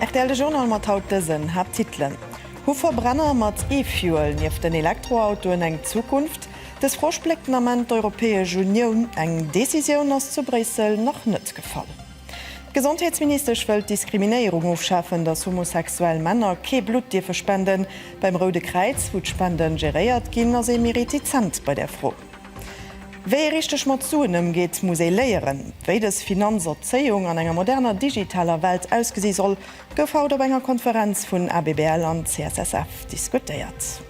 Rtl, de Journal mat haut dësen Haapttitelen, Hu Verbrenner mat E-Fuel nieft den Elektroautoen eng Zukunft? Dës Fro spléckt den Ament d'Europäesch Unioun, eng Decisioun ass zu Bréissel nach net gefall. D'Gesondheetsministesch wëll d'Diskriminéierung ofschafen, datt homosexuell Männer kee Blutt dierfe spenden. Beim Roude Kräiz, wou d'Spende geréiert ginn, ass ee méi retizent bei där Fro. Wéi ee richteg mat Suen ëmgeet, muss ee léieren. Wéi dës Finanzerzéiung an enger moderner digitaler Welt ausgesi soll, gouf haut op enger Konferenz vun ABBL an CSSF diskutéiert.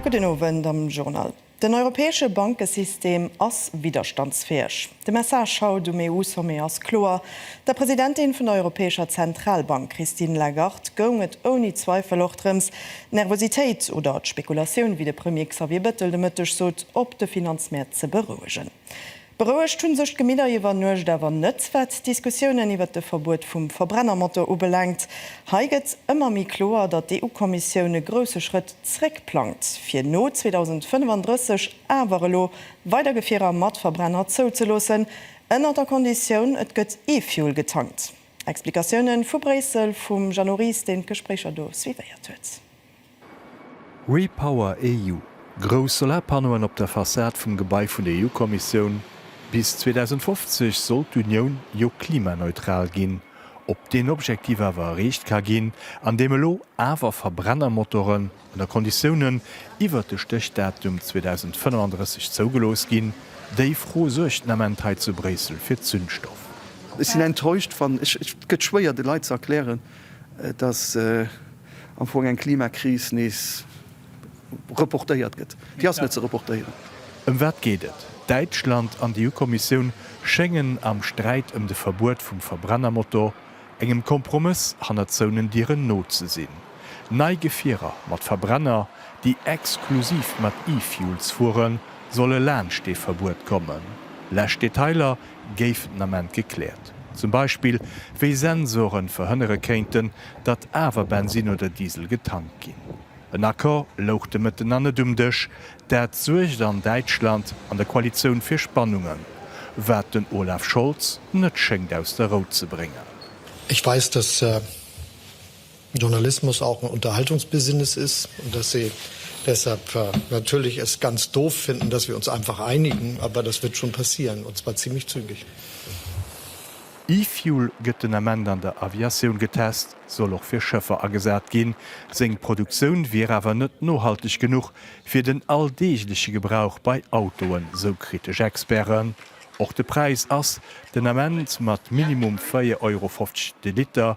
Gudden Owend am Journal. Den europäesche Bankesystem ass widderstandsfäeg. De Message haut um EU-Sommet ass kloer, Der Presidentin vun der Europäescher Zentralbank Christine Lagarde goung et ouni Zweifel och drëms, d'Nervositéit oder d'Spekulatioun, wéi de Premier Xavier Bettel de Mëtteg sot, op de Finanzmäert ze berouegen. Berouegt hunn sech d'Gemidder iwwer Nuecht awer net, wat d'Diskussiounen iwwert de Verbuet vum Verbrennermotor ubelaangt. Hei gëtt ëmmer méi kloer, datt d'EU-Kommissioun e grousse Schrëtt zréck plangt, fir no 2035 awer elo weider Gefierer mat Verbrenner zouzeloossen, ënnert der Konditioun, et gëtt E-Fuel getankt. Explikatiounen vu Bréissel vum Jeannot Ries, deen d'Gespréicher do suivéiert huet. REPowerEU, Grouss Solarpannoen op der Fassad vum Gebai vun der EU-Kommissioun, Bis 2050 soll d'Unioun jo klimaneutral ginn. Ob deen Objektiv awer erreecht ka ginn, andeem elo awer Verbrennermotoren, ënner Konditiounen, iwwert de Stéchdatum 2035 zougelooss ginn, déi Fro suergt den Ament hei zu Bréissel fir Zündstoff. Ech sinn enttäuscht, wann, et gëtt schwéier de Leit ze erklären, datt. am Fong eng Klimakris nees reportéiert gëtt. Déi ass net ze reportéieren. Ëm wat geet et? Däitschland an d'EU-Kommissioun schéngen am Sträit ëm de Verbuet vum Verbrennermotor engem Kompromëss hannert zouenen Dieren no ze sinn. Nei Gefierer mat Verbrenner, déi exklusiv mat E-Fuels fueren, solle laanscht dee Verbuet kommen. Lescht Detailer géifen den Ament gekläert. Zum Beispill, wéi Sensoren verhënnere kéinten, datt awer Bensin oder Diesel getankt ginn. En Accord louch de Mëtten nach net um Dësch. Dat suergt an Däitschland an der Koalitioun fir Spannungen, wat den Olaf Scholz net schéngt aus der Rou ze bréngen. Ech weis, dass Journalismus auch ein Unterhaltungsbusiness ist und dass sie deshalb natürlich es ganz doof finden, dass wir uns einfach einigen, aber das wird schon passieren, und zwar ziemlich zügig. E-Fuel gëtt den Ament an der Aviatioun getest, soll och fir Schëffer agesat ginn. Seng Produktioun wier awer net nohalteg genuch fir den alldeegleche Gebrauch bei Autoen, sou kritesch Experten. Och de Präis ass den Ament mat minimum 4,50 Euro de Liter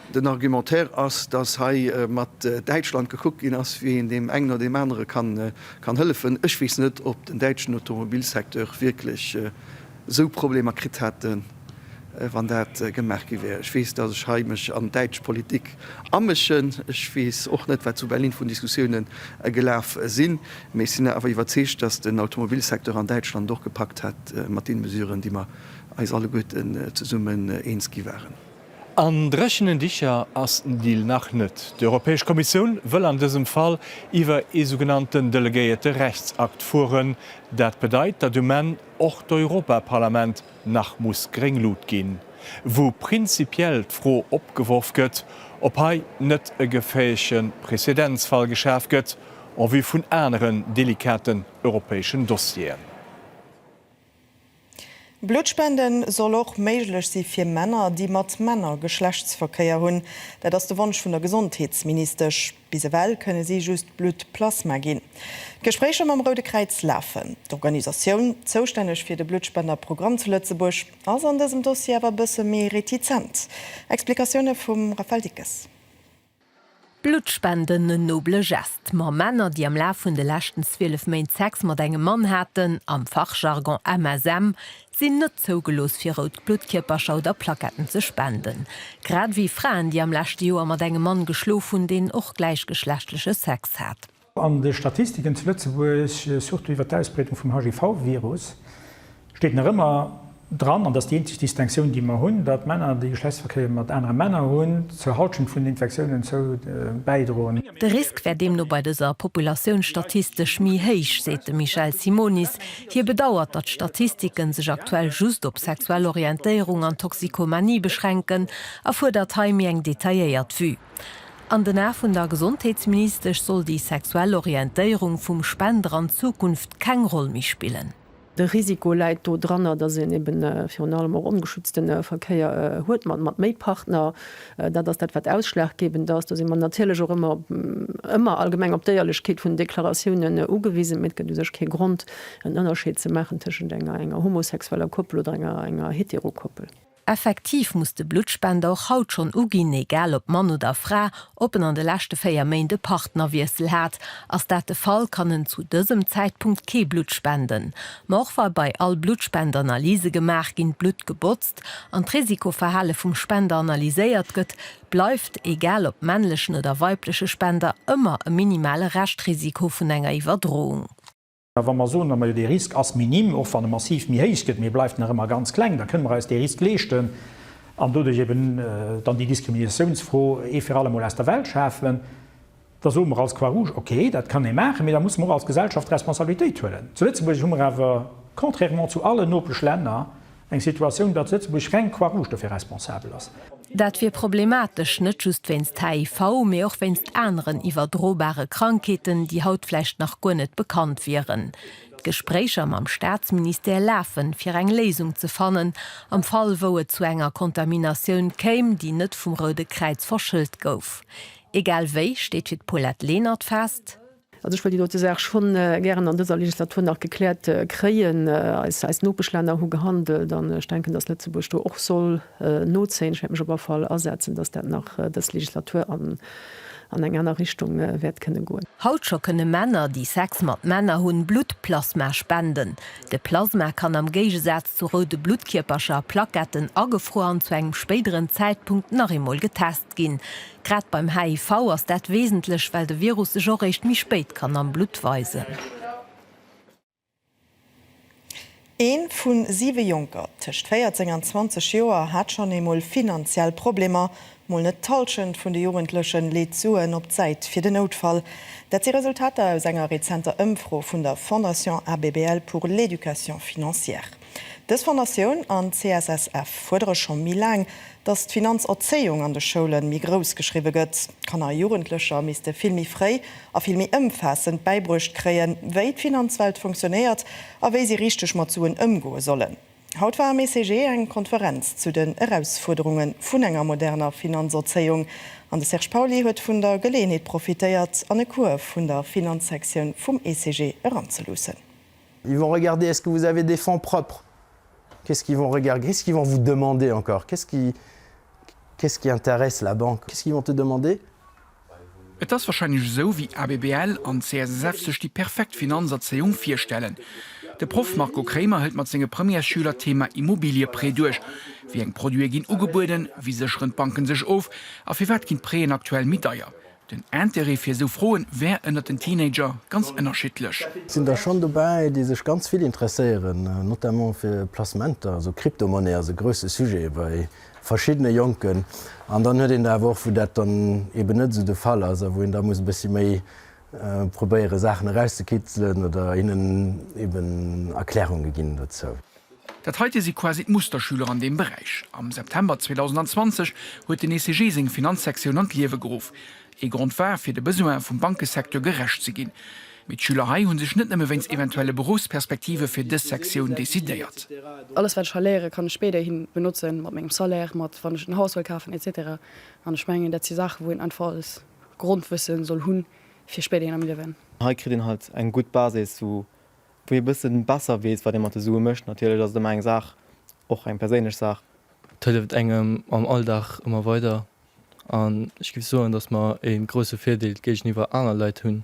Den Argumentaire ass, dass hei mat Däitschland gekuckt ginn ass, wéi een deem engen oder deem anere kann hëllefen. Ech weess net, ob den däitschen Automobilsecteur wierklech esou Problemer kritt hätt, wann dat gemaach gi wär. Ech weess, dass ech hei mech an d'däitsch Politik amëschen. Ech weess och net, wat zu Berlin vun Diskussioune gelaf sinn. Mee ech sinn awer iwwerzeegt, dass den Automobilsecteur an Däitschland et och gepackt hätt mat deene Mesuren, déi mer eis alleguerten zesummen eens gi waren. An dréchenen Dicher ass den Deal nach net. D'Europäesch Kommissioun wëll an dësem Fall iwwer ee sougenannten delegéierte Rechtsakt fueren. Dat bedeit, datt um Enn och d'Europaparlament nach muss gréng Lut ginn. Wou prinzipiell d'Fro opgeworf gëtt, ob hei net e geféierleche Prezedenzfall geschaf gëtt en vue vun aneren delikaten europäeschen Dossieren. Bluttspende soll och méiglech si fir Männer, déi mat Männer Geschlechtsverkéier hunn. Dat ass de Wonsch vun der Gesondheetsministesch. Bis ewell kënne si just Bluttplasma ginn. D'Gespréicher mam Roude Kräiz lafen. D'Organisatioun, zoustänneg fir de Bluttspenderprogramm zu Lëtzebuerg, ass an dësem Dossier awer e bësse méi retizent. Explikatioune vum Raphaël Dickes. Bluttspenden, en noble Geste, ma Männer, déi am Laf vun de leschten 12 Méint Sex mat engem Mann haten, am Fachjargon MSM, sinn net zougelooss fir rout Bluttkierpercher oder Plaquetten ze spenden. Grad ewéi Fraen, déi am leschte Joer mat engem Mann geschlof hunn, deen och gläichgeschlechtleche Sex hat. An de Statistiken zu Lëtzebuerg, surtout iwwer d'Ausbreedung vum HIV-Virus, steet nach ëmmer dran, an dat ass déi eenzeg Distinctioun, déi mer hunn, datt Männer, déi Geschlechtsverkéier mat anere Männer hunn, zur Halschent vun den Infektiounen zou bäidroen. De Risk wär deemno bei dëser Populatioun statistesch méi héich, seet de Michel Simonis. Hie bedauert, datt d'Statistike sech aktuell just op sexuell Orientéierung an Toxikomanie beschränken a fuerdert hei méi eng detailléiert Vue. An den Ae vun der Gesondheetsministesch soll déi sexuell Orientéierung vum Spender an Zukunft keng Roll méi spillen. De Risiko läit do dranner, datt een eben virun allem och ongeschützte Verkéier huet mat méi Partner. Dat ass dat, wat ausschlaggebend ass. Do si mer natierlech och ëmmer, ëmmer allgemeng op d'Éierlechkeet vun den Deklaratiounen ugewisen. Mee et gëtt u sech kee Grond, en Ënnerscheed ze maachen tëschent enger homosexueller Koppel oder enger Heterokoppel. Effektiv muss de Bluttspender och haut schonn uginn, egal ob Mann oder Fra, ob en an de leschte 4 Méint e Partnerwiessel hat. Ass dat de Fall, kann en zu dësem Zäitpunkt kee Blutt spenden. Ma och wa bei all Bluttspend Analyse gemaach ginn, d'Blutt gebotzt an d'Risikoverhale vum Spender analyséiert gëtt, bleift, egal ob männlechen oder weibleche Spender, ëmmer e minimale Reschtrisiko vun enger Iwwerdroung. A wa mer soen, Majo, dee Risk ass minim, och wann e massiv méi héich gëtt, mee e bleift nach ëmmer ganz kleng, da kënne mer eis dee Risk leeschten an doduerch eeben dann déi Diskriminatiounsfro ee fir allemol aus der Welt schafen, da soe mer als Croix-Rouge, Okay, dat kann ee maachen, mee da musse mer och als Gesellschaft Responsabilitéit huelen. Zu Lëtzebuerg hu mer awer, contrairement zu allen Nopeschlänner, Eng Situatioun, datt Lëtzebuerg reng Croix Rouge dofir responsabel ass. Dat wier problematesch, net just wéinst HIV, mee och wéinst aneren iwwerdrobare Krankheeten, déi haut vläicht nach guer net bekannt wieren. D'Gespréicher mam Staatsministère lafen, fir eng Léisung ze fannen, am Fall wou et zu enger Kontaminatioun kéim, déi net vum Roude Kräiz verschëllt gouf. Egal wéi steet fir d'Paulette Lenert fest, Also ech wëll déi dote Saach scho gären an dëser Legislatur nach gekläert kréien. Eis Nopeschlänner hu gehandelt an ech denken, dass Lëtzebuerg do och soll nozéien. Ech wäert mech op all Fall asetzen, dass dat nach dës Legislatur an eng aner Richtung wäert kënne goen. Haut scho kënne Männer, déi Sex mat Männer hunn, Bluttplasma spenden. De Plasma kann am Géigesaz zu roude Bluttkierpercher a Plaquetten agefruer an zu engem spéideren Zäitpunkt nach eemol getest ginn. ginn. Grad beim HIV ass dat wesentlech, well de Virus sech och réischt méi spéit kann am Blutt weisen. Ee vu siwe Jonker tëscht 14 an 20 Joer hat schonn eemol finanziell Problemer. Mol net d'Hallschent vun de Jugendlechen leet Suen op d'Säit fir den Noutfall. Dat si Resultater aus enger rezenter Ëmfro vun der Fondation Abbl pour l'Education financière. Dës Fondatioun an d'CSSF fuerdere scho méi laang, datt d'Finanzerzéiung an de Schoule méi grouss geschriwwe gëtt. Kanner a Jugendlecher misste vill méi fréi a vill méi ëmfaassend bäibruecht kréien, wéi d'Finanzwelt funktionéiert a wéi si richteg mat Suen ëmgoe sollen. Haut war am ECG eng Konferenz zu den Erausfuerderunge vun enger moderner Finanzerzéiung an de Serge Pauly huet vun der Geleeënheet profitéiert an e Cours vun der Finanzsektioun vum ECG eranzeluussen. Ils vont regarder est-ce que vous avez des fonds propres? Qu'est-ce qu'ils vont regarder? Qu'est-ce qu'ils vont vous demander encore? Qu'est-ce qui, qu'est-ce qui intéresse la banque? Qu'est-ce qu'ils vont te demander? Et ass wahrscheinlech esou, wéi ABBL an d'CSSF sech déi perfekt Finanzerzéiung virstellen. De Proff Marco Kremer hëlt mat senge Premièresschüler d'Thema Immobilieprêt duerch. Wéi eng Produite ginn ugebueden? Wéi sécheren d'Banken sech of? A firwat ginn d'Préen aktuell méi deier? Den Intérêt fir esou Froen wär ënnert den Teenager ganz ënnerschiddlech. Et sinn der schonn dobäi, déi sech ganz vill interesséieren, notamment fir Placementer, also Kryptomonnaie ass e grousse Sujet bei verschiddene Jonken. An dann huet een der awer och, wou dat dann eeben net esou de Fall ass a wou een da muss e bëssi méi probéiere Saachen erauszekizelen oder hinnen eeben Erklärunge ginn dozou. Dat heite si quasi d'Musterschüler an deem Beräich. Am September 2020 huet den ECG seng Finanzsektioun an d'Liewe geruff. Ee Grond war, fir de Besoine vum Bankesecteur gerecht ze ginn. Mee d'Schüler hei hu sech net nëmme wéinst eventuelle Beruffsperspektive fir dës Sektioun decidéiert. Alles, wat ech hei léiere kann ech spéiderhi benotzen, mat mengem Salaire, mat wann ech en Haus wëll kafen, etc. An ech mengen, dat si Saache wou een einfach als Grondwësse soll hunn, fir spéiderhin am Liewen. Hei kritt een halt eng gutt Basis, wou wou ee bësse besser weess, wat ee mat de Sue mécht. Natierlech ass et ëmmer eng Saach, och eng perséinlech Saach. Et hëlleft engem am Alldag ëmmer weider an ech géif soen, datt mer ee grousse Virdeel géigeniwwer aner Leit hunn,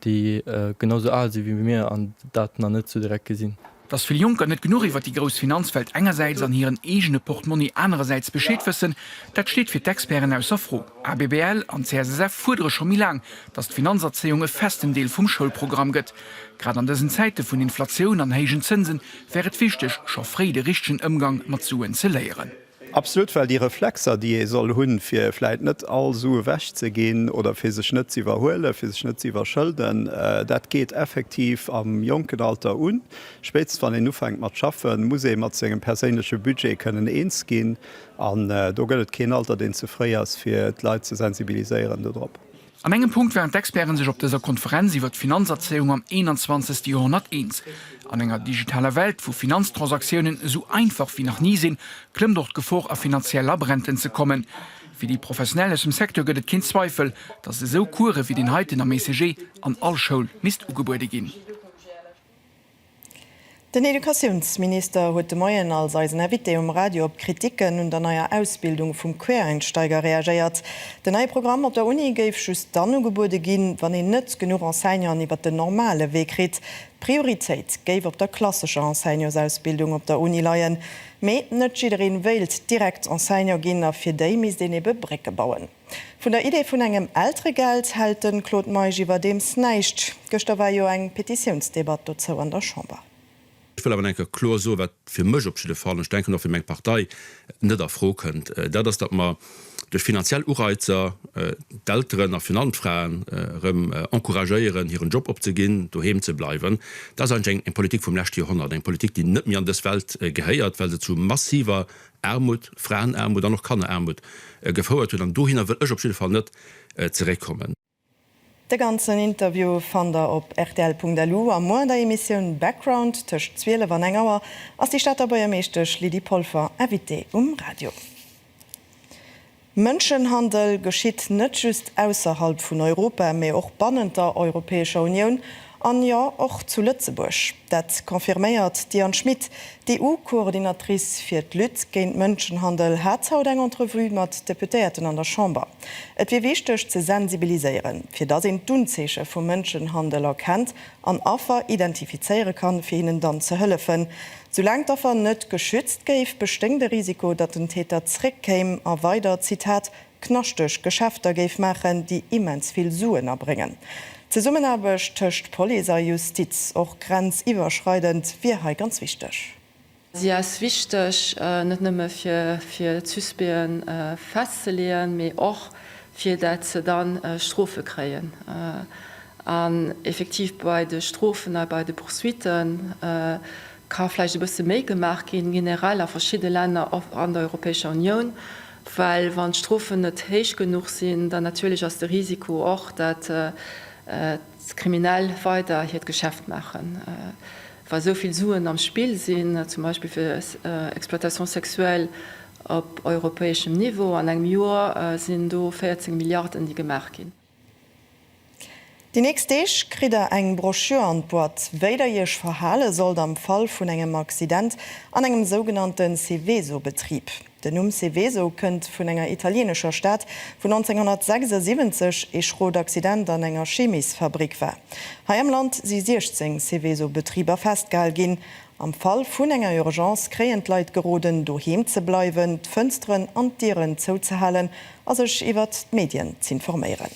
déi genau esou al si wéi mir an dat nach net esou direkt gesinn. Datt vill Jonker net genuch iwwer déi grouss Finanzwelt engersäits an hiren eegene Portmonni anerersäits Bescheed wëssen, dat steet fir d'Experten ausser Fro. ABBL an CSSF fuerdere scho méi laang, dass d'Finanzerzéiung e festen Deel vum Schoulprogramm gëtt. Grad an dësen Zäite vun Inflatioun an héijen Zënsen wär et wichteg, scho fréi de richtegen Ëmgang mat Suen ze léieren. Absolut, well déi Reflexer, déi ee soll hunn, fir vläit net all Su ewechzeginn oder fir sech net ze iwwerhuelen, fir sech net ze iwwerschëlden, dat geet effektiv am jonken Alter un. Spéitstens wann een ufänkt mat schaffen, muss ee mat sengem perséinleche Budget kënnen eens ginn. An do gëtt et keen Alter, deen ze fréi ass, fir d'Leit ze sensibiliséieren dodrop. An engem Punkt waren d'Experte sech op dëser Konferenz iwwer d'Finanzerzéiung am 21. Joerhonnert eens, An enger digitaler Welt, wou Finanztransaktiounen esou einfach wéi nach ni sinn, klëmmt och d'Gefor a finanziell Labränten ze kommen. Fir déi Professionell aus dem Secteur gëtt et keen Zweifel, datt esou Course wéi deen heiten am ECG an all Schoul misst ugebuede ginn. Den Educatiounsminister huet de Moien als eisen Invité um Radio op d'Kriticken un der neier Ausbildung vum Quereinsteiger reagéiert. Den neie Programm op der Uni géif just dann ugebuede ginn, wann een net genuch Enseignanten iwwer den normale Wee kritt. D'Prioritéit géif op der klassescher Enseignantsausbildung op der Uni leien. Mee net jidderee wéilt direkt Enseignant ginn a fir déi misst een ebe Brécke bauen. Vun der Idee vun engem Elteregeld hält de Claude Meisch iwwerdeems näischt. Gëschter war jo eng Petitiounsdebatt dozou an der Chamber. Ech wëll awer nach eng Kéier kloer soen, wat fir mech op jidde Fall, an ech denken och fir meng Partei, net a Fro kënnt, dat ass, datt mer duerch finanziell Ureizer d'Elteren a virun allem d'Fraen erëm encouragéieren, hiren Job opzeginn, doheem ze bleiwen. Dat ass eigentlech eng Politik vum leschte Joerhonnert, eng Politik, déi net méi an dës Welt gehéiert, well se zu massiver Aarmut, Fraenaarmut an och Kanneraarmut gefouert huet. An dohinner wëll ech op jidde Fall net zeréckkommen. De ganzen Interview fannt der op rtl.lu a muer an der Emissioun Background tëscht 12 an eng Auer ass déi Stater Buergermeeschtesch Lydie Polfer Invitée um Radio. Mënschenhandel geschitt net just ausserhalb vun Europa, mee och bannent der Europäescher Unioun, an jo, och zu Lëtzebuerg. Dat confirméiert d'Diane Schmit. D'EU-Coordinatrice fir d'Lutte géint Mënschenhandel hat haut eng Entrevue mat Deputéierten an der Chamber. Et wier wichteg ze sensibiliséieren, fir datt een d'Unzeeche vu Mënschenhandel erkennt an Affer identifizéiere kann, fir hinnen dann ze hëllefen. Soulaang d'Affer net geschützt géif, bestéing de Risiko, datt den Täter zréckkéim a weider, Zitat, knaschteg Geschäfter géif maachen, déi immens vill Suen abréngen. D'Zesummenaarbecht tëscht Police a Justiz, och grenziwwerschreidend, wier hei ganz wichteg. Si ass wichteg, net nëmme fir d'Suspecte festzeleeën, mee och fir dat se da Strofe kréien. An effektiv bei de Strofen a bei de Poursuitte ka vläicht e bësse méi gemaach ginn, generell a verschidde Länner an der Europäescher Unioun, well wann d'Strofen net héich genuch sinn, dann natierlech ass de Risiko och, datt d'Kriminell weider hiert Geschäft maachen, wa sou vill Suen am Spill sinn, zum Beispill fir Exploitation sexuelle op europäeschem Niveau. An engem Joer sinn do 14 Milliarden, déi gemaach ginn. Déi nächst Deeg kritt der eng Brochure an d'Boîte, wéi der iech verhale sollt am Fall vun engem Accident an engem sougenannte Seveso-Betrib. Den Numm Seveso kënnt vun enger italieenescher Stad, wou 1976 ee schrot Accident an enger Chemisfabrik war. Hei am Land si 16 Seveso-Betriber festgehal ginn. Am Fall vun enger Urgence kréien d'Leit geroden, doheem ze bleiwen, d'Fënsteren an d'Dieren zouzehalen a sech iwwert d'Medien z'informéieren.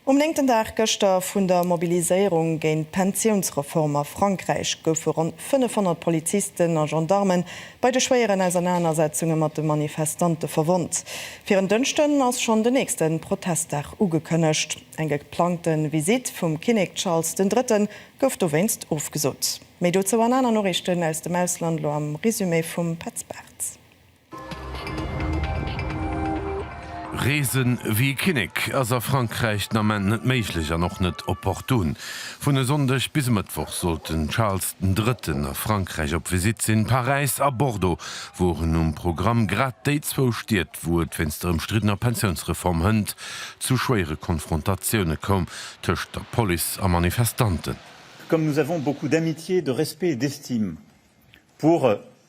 Um néngten Dag gëschter vun der Mobiliséierung géint d'Pensiounsreform a Frankräich goufe ronn 500 Polizisten a Gendarmen bei de schwéieren Ausernanersetzunge mat de Manifestante verwonnt. Fir en Dënschden ass schonn den nächste Protestdag ugekënnegt. Eng geplangte Visitt vum Kinnek Charles den Drëtten gouf dowéinst ofgesot. Méi dozou an aner Noriichten aus dem Ausland, lo am Resumé vum Petz Bartz. Reesen ewéi e Kinnek ass a Frankräich den Ament net méiglech an och net opportun. Vun e Sonndeg bis e Mëttwoch sollt den Charles den Drëtten a Frankräich op Visitt sinn. Paräis a Bordeaux woren um Programm, grad déi zwou Stied, wou et wéinst der ëmstriddener Pensiounsreform hënt zu schwéiere Konfrontatioune koum tëscht der Police a Manifestanten. Comme nous avons beaucoup d'amitié, de respect et d'estime pour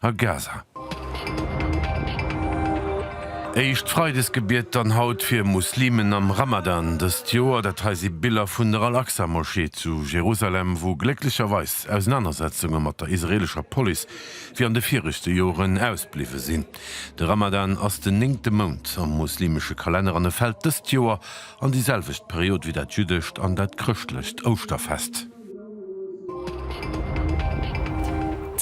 a Gaza. Éischt Freidesgebiet dann haut fir Muslimen am Ramadan dëst Joer. Dat hei si Biller vun der Al-Aqsa-Moschee zu Jerusalem, wou glécklecherweis Ausenanersetzunge mat der israeelescher Police wéi an de viregte Joren ausbliwwe sinn. De Ramadan ass den néngte Mount am muslimesche Kalenner an e fält dëst Joer an déi selwecht Period wéi dat jüddescht an dat chrëschtlecht Ouschterfest.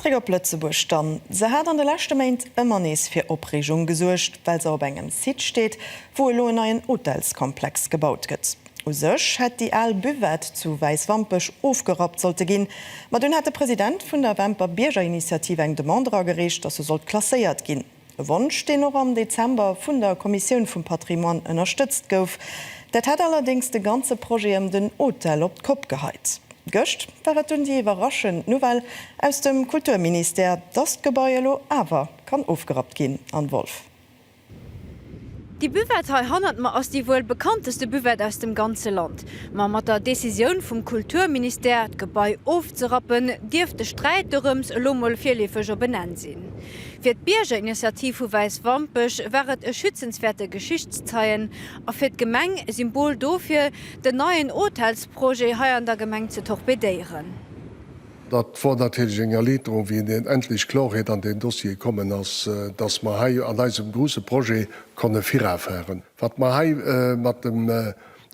Zréck op Lëtzebuerg dann. Se hat an de leschte Méint ëmmer nees fir Opreegung gesuergt, well se op engem Site steet, wou elo en neien Hotelskomplex gebaut gëtt. U sech hätt déi al Buvette zu Wäiswampech ofgerappt sollte ginn, ma dunn hat de President vun der Wämper Biergerinitiativ eng Demande eragereecht, datt se sollt klasséiert ginn. E Wonsch, deen och am Dezember vun der Kommissioun vum Patrimoine ënnerstëtzt gouf. Dat hätt allerdéngs de ganze Projet ëm den Hotel op d'Kopp geheit. Gëscht war et dunn déi iwwerraschend Nouvelle aus dem Kulturministère, dass d'Gebai elo awer kann ofgerappt ginn. Anne Wolff. Déi Buvette hei hannert mer ass déi wuel bekannteste Buvette aus dem ganze Land. Ma mat der Decisioun vum Kulturministère, d'Gebai ofzerappen, dierft de Sträit dorëms elo mol virleefeg op en Enn sinn. Fir d'Biergerinitiativ vu Wäiswampech war et e schützenswäerte Geschichtszeien a fir d'Gemeng e Symbol dofir, den neien Hotelsprojet hei an der Gemeng ze torpedéieren. Dat wor natierlech eng Erliiterung, wéi deen endlech Klorheet an deen Dossier kommen ass, dass mer hei an eisem gruuse Projet konne virafahren. Wat mer hei mat dem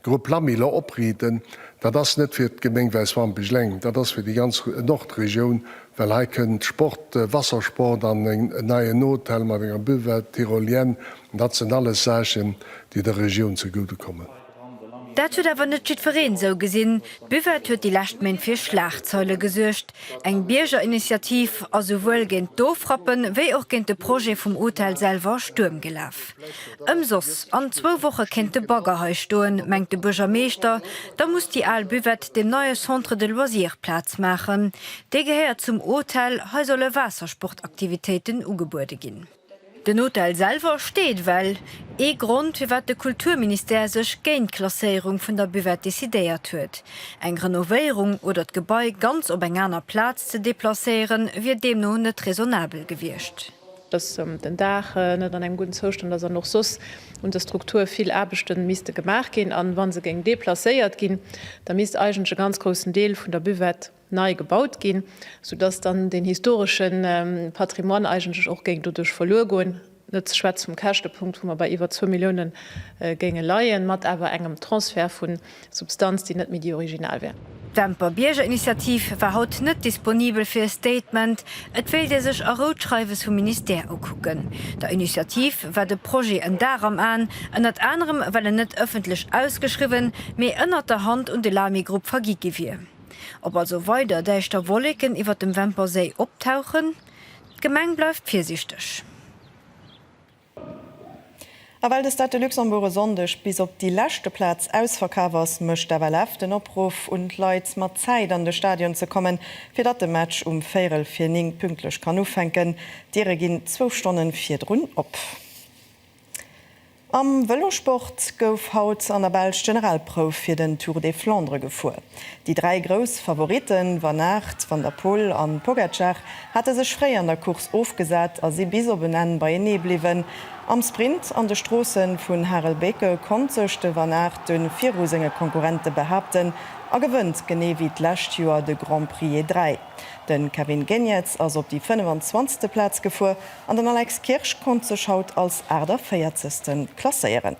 D'Grupp Lammiller Oprieden, dat ass net fir d'Gemeng Wäiswampech eleng, dat ass fir déi ganz Nordregioun, well hei kënn d'Sport, Wassersport an en neien Hotel mat enger Buvette, Tyrolienne, dat sinn alles Saachen, déi der Regioun zegude kommen. Dat huet awer net jiddwereen esou gesinn. D'Buvette huet déi lescht Méint fir Schlagzeile gesuergt, Eng Biergerinitiativ ass souwuel géint d'Ofrappen, wéi och géint de Projet vum Hotel selwer Stuerm gelaf. Ëmsoss, an zwou Woche kéint de Bagger hei stoen, mengt de Buergermeeschter. Da muss déi al Buvette dem neie Centre de loisirs Plaz maachen. Dee gehéiert zum Hotel, hei solle Waassersportaktivitéiten ugebuede ginn. Den Hotel selwer steet well, ee Grond firwat de Kulturministère sech géint d'Klasséierung vun der Buvette decidéiert huet. Eng Renovéierung oder d'Gebai ganz op eng aner Plaz ze deplacéiere wier deemno net raisonnabel gewiescht. Dass den Daach net an engem gudden Zoustand ass an och soss un der Struktur vill Aarbechte misste gemaach ginn. A wa se géing deplacéiert ginn, da misst eigentlech e ganz groussen Deel vun der Buvette, nei gebaut ginn, sou dass dann den historesche Patrimoine eigentlech och géing doduerch verluer goen, net ze schwätze vum Käschtepunkt, wou mer bei iwwer zwou Millioune géinge leien, mat awer engem Transfert vu Substanz, déi net méi déi original wär. D'Demper Biergerinitiativ war haut net disponibel fir e Statement. Et wéilt ee sech a Rou d'Schreiwes vum Ministère ukucken. Der Initiativ war de Projet en Dar am Aen, ënnert anerem well en net ëffentlech ausgeschriwwen, mee ënnert der Hand un de Lamy-Grupp vergi gi wier. Ob also weider däischter Wolleken iwwert dem Wämperséi optauchen, d'Gemeng bleift virsiichteg. A well de Stade de Luxembourg e Sonndeg bis op déi leschte Plaz ausverkaf ass, mécht d'FLF den Opruff un d'Leit, mat Zäit an de Stadion ze kommen, fir datt de Match um véierel vir 9 pünktlech kann ufänken. D'Diere ginn zwou Stonne virdrun op. Am Vëlosport gouf haut an der Belsch d'Generalprouf fir den Tour des Flandres gefuer. Déi dräi grouss Favoritten, Van Aert, Van der Poel an Pogacar, hate sech fréi an der Course ofgesat a si bis op en Enn beienee bliwwen. Am Sprint an de Stroossen vun Harelbeke konnt sech de Van Aert dunn viru senge Konkurrente behaapten a gewënnt genee wéi d'lescht Joer de Grand Prix E3. Den Kevin Geniets ass op déi 25. Plaz gefuer. An den Alex Kirsch konnt sech haut als 48. klasséieren.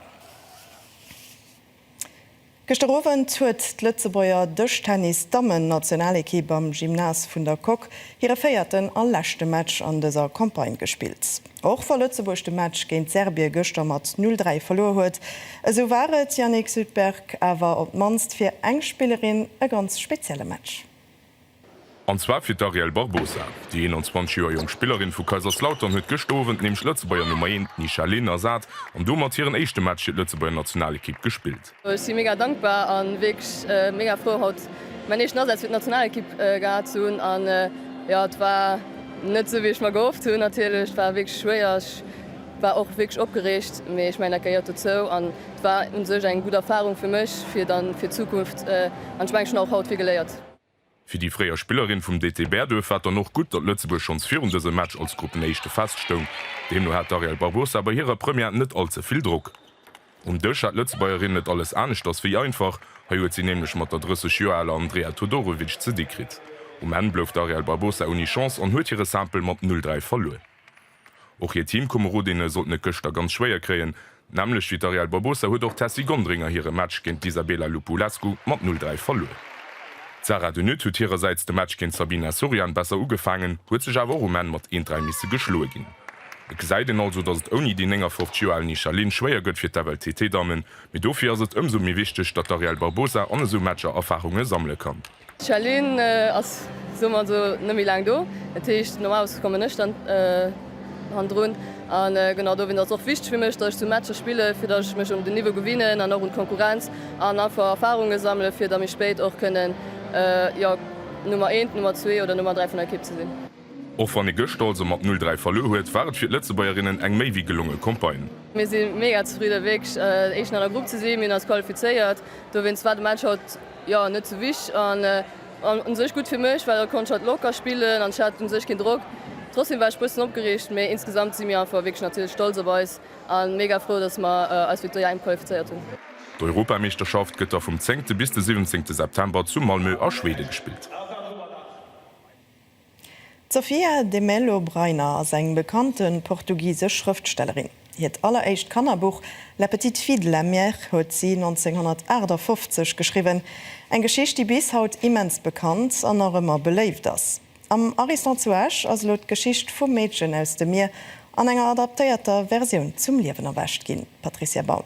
Gëschter Owend huet d'Lëtzebuerger Dëschtennis-Dammen-Nationalekipp am Gymnase vun der Coque hire véierten a leschte Match an dëser Campagne gespillt. Och wa Lëtzebuerg de Match géint Serbie gëschter mat 0, 3 verluer huet, esou war et, Yannick Sydberg, awer op d'mannst fir eng Spillerin e ganz spezielle Match. An zwar fir d'Ariel Barbosa. Déi 21 Joer jonk Spillerin vu Kaiserslautern huet gëscht Owend nämlech d'Lëtzebuerger Nummer 1, d'Nisha Lin, ersat an domat hiren éischte Match fir d'Lëtzebuerger Nationalekipp gespillt. Ech si mega dankbar a wierklech mega frou haut mäin éischten Asaz fir d'Nationalekipp gehat ze hunn. An jo, et war net esou wéi ech mer gehofft hunn natierlech. Et war wierklech schwéier, ech war och wierklech opgereegt, mee ech mengen dat gehéiert dozou. An et war un sech eng gutt Erfarung fir mech fir dann fir d'Zukunft an ech mengen ech hunn och haut vill geléiert. Fir déi fréier Spillerin vum DT Bäerduerf war et dann och gutt, datt Lëtzebuerg schonns virun dësem Match als Gruppenéischte feststoung. Deemno hat d'Ariel Barbosa bei hirer Première net all ze vill Drock. Um Dësch hat d'Lëtzebuergerin et alles aneschters wéi einfach. Hei huet si nämlech mat der 30 Joer aler Andrea Todorovic ze di kritt. Um Enn blouf d'Ariel Barbosa ouni Chance an huet hire Simple mat 'Null-Dräi' verluer. Och hir Teamkomerodinnen sollten et gëschter ganz schwéier kréien. D'Nämmlecht wéi d'Arielle Barbosa huet och d'Tessy Gonderinger hire Match géint d'Isabela Lupulescu mat 'Null Dräi' verluer. D'Sarah De Nutte huet hirersäits de Match géint d'Sabina Sorian besser ugefaangen, huet sech awer och um Enn mat 'Een Dräi' misse geschloe ginn. Et gesäit een also, datt et ouni déi 59 Joer al Nisha Lin schwéier gëtt fir d'FLTT-Dammen, mee dofir ass et ëmsou méi wichteg, datt d'Arielle Barbosa an esou Matcher Erfarunge sammele kann. D'Chalene ass, soe mer esou, net méi laang do. Dat heescht, normalerweis kommen ech dann hannendrun. A genau dowéinst ass et och wichteg fir mech, datt ech sou Matcher spillen, fir datt ech mech un den Niveau gewinnen an och un d'Konkurrenz an einfach Erfarunge sammelen, fir da méi spéit och kënnen, jo, Nummer eent, Nummer zwee oder Nummer dräi vun der Ekipp ze sinn. Och wann ee gëschter also mat 'Null dräi' verluer huet, war et fir d'Lëtzebuergerinnen eng méi wéi gelonge Campagne. Mir si mega zefridde wierklech Éischten an der Grupp ze sinn. Mir hunn eis qualifizéiert, dowéinst war de Match haut jo net sou wichteg an u sech gutt fir mech, well haut konnt ech hatt locker spillen an ech hat u sech keen Drock. Trotzdem war ech bëssen opgereegt, mee insgesamt si mir einfach wierklech natierlech stolz op eis a mega frou, dass mer eis fir d'EM qualifizéiert hunn. D'Europameeschterschaft gëtt da vum zéngte bis de siwwenzéngte September zu Malmö a Schwede gespillt. D'Sofia de Melo Brainer ass eng bekannte portugisesch Schrëftstellerin. Hiert alleréischt Kannerbuch La petite fille de la mer huet si 1958 geschriwwen, eng Geschicht, déi bis haut immens bekannt an nach ëmmer beléift ass. Am Ariston zu Esch ass elo d'Geschicht vum Meedchen aus dem Mier an enger adaptéierter Versioun zum Liewen erwächt ginn, Patricia Baum.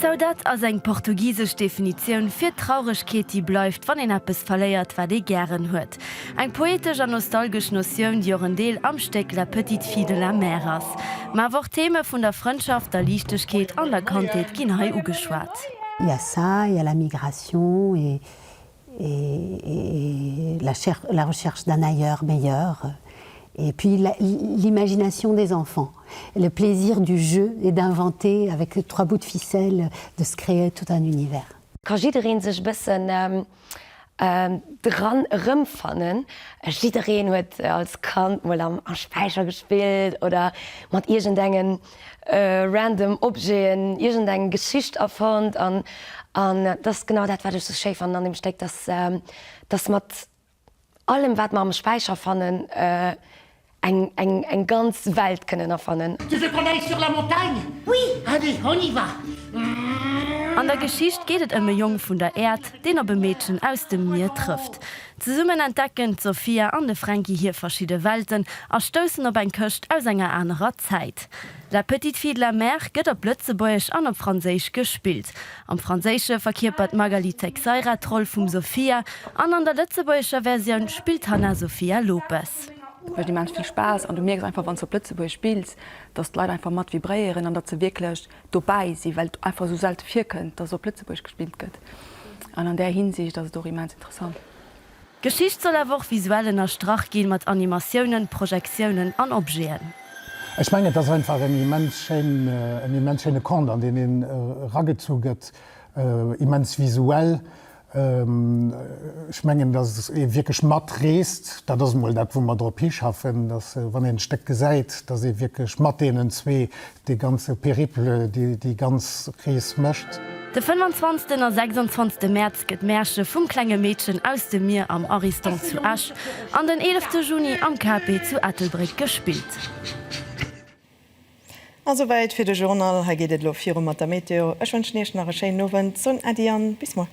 Saudade ass eng portugisesch Definitioun fir d'Trauregkeet, déi bleift, wann een eppes verléiert, wat ee gären huet. Eng poetesch an nostalgesch Notioun, déi och en Deel am Stéck La petite fille de la mer ass. Mä awer och d'Theme vun der Frëndschaft, der Liichtegkeet an der Kandheet ginn hei ugeschwat. Yassa, il y a la migration et et la recherche d'un ailleurs meilleur et puis l'imagination des enfants, le plaisir du jeu et d'inventer avec trois bouts de ficelle, de se créer tout un univers. Ka jiddereen sech e bëssen dran erëmfannen? Jiddereen huet als Kand mol am Späicher gespillt oder mat iergendengen. random Objeten, iergend eng Geschicht erfonnt an an dat ass genau dat wat ech sou schéi fannen an dem Stéck, dass dass mat allem wat mer am Späicher fannen eng eng eng ganz Welt kënnen erfannen. Tu veux qu'on aille sur la montagne? Oui! Allez, on y va! An der Geschicht geet et ëm e Jong vun der Äerd, deen op e Meedchen aus dem Mier trëfft. Zesummen entdecken d'Sofia an de Fränki hir verschidde Welten a stoussen op eng Këscht aus enger anerer Zäit. La petite fille de la mer gëtt op Lëtzebuergesch an op Franséisch gespillt. Am Franséische verkierpert d'Magali Teixeira d'Roll vum Sofia an an der lëtzebuergescher Versioun spillt d'Hanna Sofia Lopes. Et mécht immens vill Spaass an du mierks einfach, wann s de op Lëtzebuergesch spills, datt d'Leit einfach mat vibréieren an datt se wierklech dobäi sinn, well et einfach esou selte virkënnt, dass op Lëtzebuerg gespillt gëtt. An an där Hinsicht ass et och immens interessant. D'Geschicht soll awer och visuell ënnerstrach ginn, mat Animatiounen, Projektiounen an Objeten. Ech mengen, et ass einfach en immens schéin, en immens schéine Conte, an deen een eragezu gëtt, immens visuell. Ech mengen, datt ee wierklech matreest. Dat ass emol dat, wou mer drop hischaffen, datt, wann een d'Stéck gesäit, datt ee wierklech mat deenen zwee dee ganze Périple, déi ganz Rees mécht. De fënnwanzwanzten a sechsundzwanzte Mäerz gëtt Märche vum klenge Meedchen aus dem Mier am Ariston zu Esch an den eelefte Juni am KP zu Ettelbréck gespillt. A souwäit fir de Journal. Hei geet et elo viru mat der Météo. Ech wënschen Iech nach e schéinen Owend, soen Äddi an bis muer.